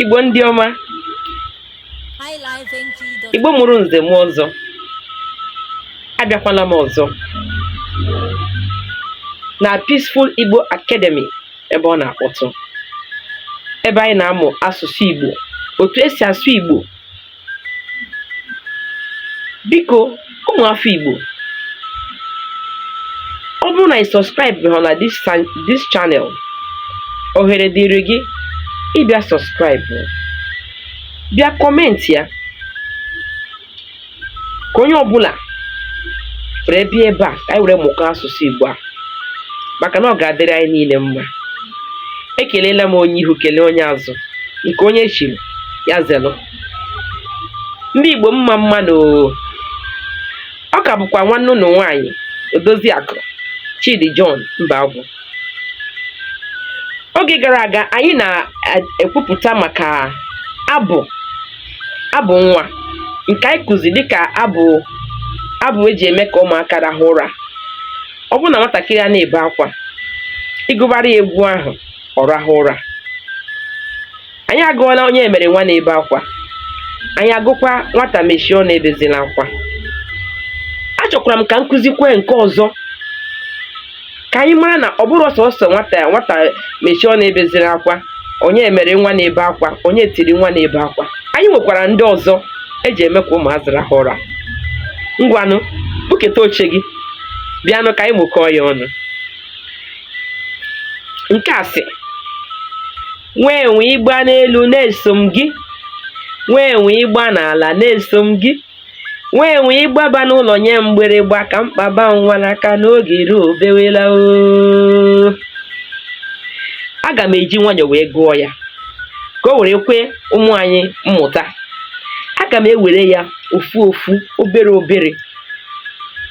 igbo ndị ọma igbo mụrụ nze mụọ ọzọ abịakwala m ọzọ na Peaceful Igbo Academy ebe ọ na-akpọtụ ebe anyị na-amụ asụsụ Igbo otu esi asụ Igbo biko ụmụ afọ Igbo ọ bụrụ na ị subscribe ha na this channel ohere dịrị gị ịbịa subscribe bịa comment ya ka onye ọbụla were bịa ebe a ka anyị were mụkọ asụsụ Igbo a maka na ọ ga-adịrị anyị niile mma ekelela m onye ihu kelee onye azụ nke onye chiri ya zelu ndị Igbo mma mma nụ ọ ka bụkwa nwanne unu nwaanyị Odoziakụ Chidi John Mbagwu oge gara aga anyị na-ekwupụta maka abụ abụ nwa nke anyị kụzi dịka abụ abụ eji eme ka ụmụaka rahụ ụra ọ bụrụ na nwatakịrị a na-ebe akwa ị gụbara ya egwu ahụ ọ rahụ ụra anyị agụọla onye mere nwa na-ebe akwa anyị agụkwa nwata mechie ọnụ ebezila akwa achọkwara m ka m kụzikwue nke ọzọ ka anyị mara na ọ bụrọ sọsọ nwata nwata mechie ọnụ ebezila akwa onye mere nwa na-ebe akwa onye tiri nwa na-ebe akwa anyị nwekwara ndị ọzọ eji eme ka ụmụazị rahụ ụra ngwanụ buketa oche gị bịanụ ka anyị mụkọọ ya ọnụ nke a sị nwa enwe ị gbaa n'elu na-eso m gị nwa enwe ị gbaa n'ala na-eso m gị nwa enwe ị gbaba n'ụlọ nye mgbịrịgba ka m kpaba nwa n'aka n'oge ruo o bewela oo aga m eji nwayọọ wee gụọ ya ka o were kwe ụmụ anyị mmụta aga m ewere ya ofu ofu obere obere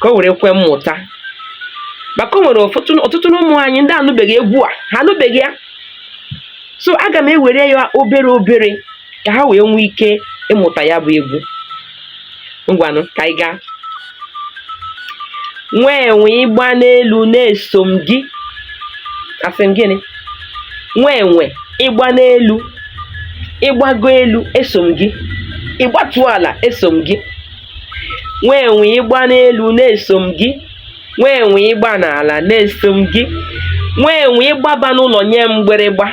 ka o were kwe mmụta maka o nwere ọtụtụ n'ụmụ anyị ndị anụbeghị egwu a ha anụbeghị ya so aga m ewere ya obere obere ka ha wee nwee ike ịmụta ya bụ egwu ngwanụ ka anyị gaa nwa enwe ị gbaa n'elu na-eso m gị asị m gịnị nwa enwe ị gbaa n'elu ị gbago elu eso m gị ị gbatuo ala eso m gị nwa enwe ị gbaa n'elu na-eso m gị nwa enwe ị gba n'ala na eso m gị nwa enwe ị gbaba n'ụlọ nye m mgbịrịgba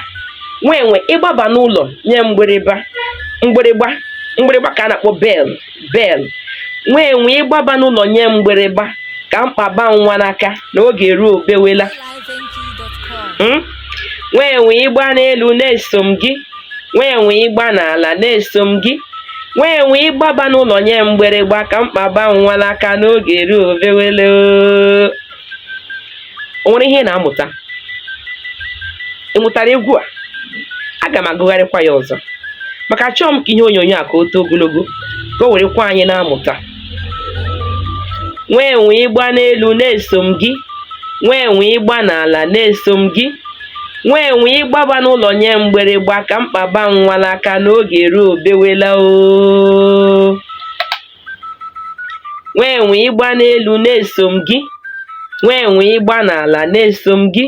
nwa enwe ị gbaba n'ụlọ nye m mgbịrịgba mgbịrịgba mgbịrịgba ka a na-akpọ bell bell nwa enwe ị gbaba n'ụlọ nye m mgbịrịgba ka m kpaba nwa n'aka na oge eruo o bewela nwa enwe ị gba n'elu na eso m gị nwa enwe ị gba n'ala na eso m gị nwa enwe ị gbaba n'ụlọ nye m mgbịrịgba ka m kpaba nwa n'aka na oge eruo o bewele o nwere ihe ị na-amụta ị mụtara egwu a aga m agụgharịkwa ya ọzọ maka achọghị m ka ihe onyonyo a ka o too ogologo ka o werekwa anyị na-amụta nwa enwe ị gba n'elu na eso m gị nwa enwe ị gba n'ala na eso m gị nwa enwe ị gbaba n'ụlọ nye m mgbịrịgba ka m kpaba nwa n'aka na oge eruo o bewela oo nwa enwe ị gba n'elu na eso m gị nwa enwe ị gba n'ala na eso m gị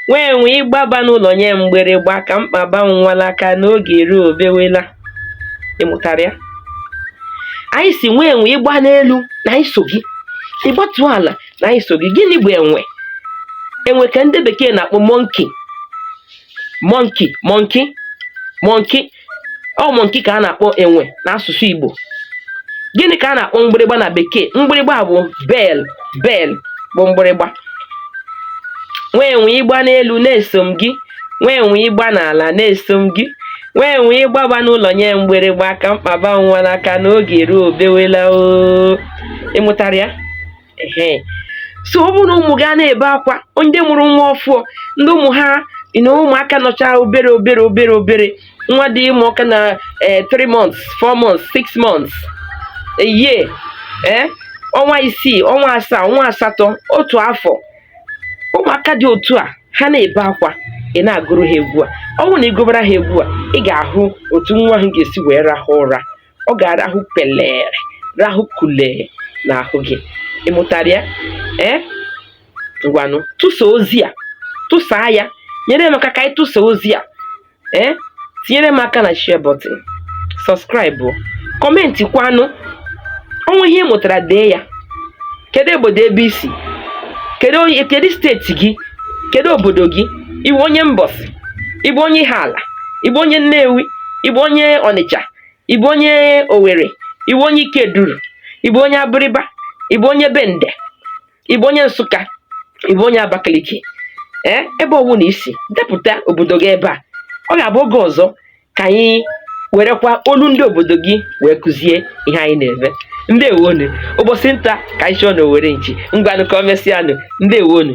nwa enwe ị gbaba n'ụlọ nye m mgbịrịgba ka m kpaba nwa n'aka na oge eruo o bewela ị mụtara ya anyị sị nwa enwe ị gba n'elu na anyị so gị ị gbatuo ala na anyị so gị gịnị bụ enwe enwe ka ndị bekee na-akpọ monkey monkey monkey monkey ọ monkey ka a na-akpọ enwe n'asụsụ Igbo gịnị ka a na-akpọ mgbịrịgba na bekee mgbịrịgba bụ bell bell bụ mgbịrịgba nwa enwe ị gba n'elu na eso m gị nwa enwe ị gba n'ala na eso m gị Nwa enwe ị gbaba n'ụlọ nye m mgbịrịgba ka m kpaba nwa n'aka na oge eruo o bewela o ị mụtara ya ehe so ọ bụrụ na ụmụ gị a na-ebe akwa ndị mụrụ nwa ọfụọ ndị ụmụ ha na ụmụaka nọcha obere obere obere obere nwa dị ịmụ ọka na 3 months 4 months 6 months a year ee ọnwa isii ọnwa asaa ọnwa asatọ otu afọ ụmụaka dị otu a ha na-ebe akwa ị na-agụrụ ha egwu a ọ bụrụ na ị gụbara ha egwu a ị ga-ahụ otu nwa ahụ ga-esi wee rahụ ụra ọ ga-arahụ pelere rahụ kulee n'ahụ gị ị mụtara ya ee ngwanụ tụsa ozi a tụsaa ya nyere m aka ka anyị tụsa ozi a ee eh? tinyere m aka na share button subscribe kọmentị kwanụ o nwee ihe ị mụtara dee ya kedu obodo ebe i si kedu kedu steeti gị kedu obodo gị ị bụ onye mbọsị ị bụ onye ihiala ị bụ onye nnewi ị bụ onye ọnịcha ị bụ onye owere ị bụ onye ikeduru ị bụ onye abịrịba ị bụ onye bende ị bụ onye nsụka ị bụ onye abakaliki ee ebe ọ wụna i si depụta obodo gị ebe a ọ ga-abụ oge ọzọ ka anyị werekwa olu ndị obodo gị wee kụzie ihe anyị na-eme ndewonu ụbọchị nta ka anyị chụọ na owere nchi ngwanụ ka o mesịanụ ndewonu